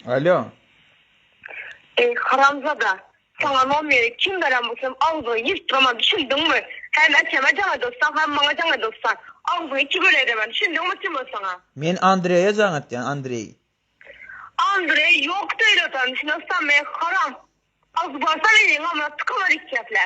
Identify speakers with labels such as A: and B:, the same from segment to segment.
A: Alýo. Eý haramzada, saňa nomeri kim beren bolsam agzyňy ýyrtdyrman düşündiňmi? Hem äkeme jaň edossaň hem maňa jaň edossaň, agzyňy iki göle edemen düşündiňmi kim ol saňa? Men Andreýe jaň etýän Andreý. Andreý ýokdy öýle adam düşünossaňmy haram. Agzy bolsa meniň omra tykylar iki geplä.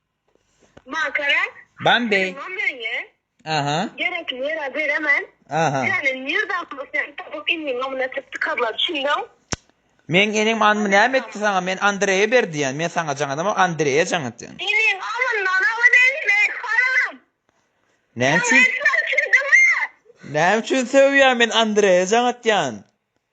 A: Makara. Bambi. Aha. Gerek yere beremen. Aha. Yani nirdan bu sen tapıp inni nomuna tıp tıkarlar çindav. Men enim anmı näme etti sana? Men Andreýe berdi ýan. Men sana jaň edemok, Andreýe jaň etýän. Iniň alyndan awa beýle men haram. Näme üçin? Näme üçin söýýän men Andreýe jaň etýän.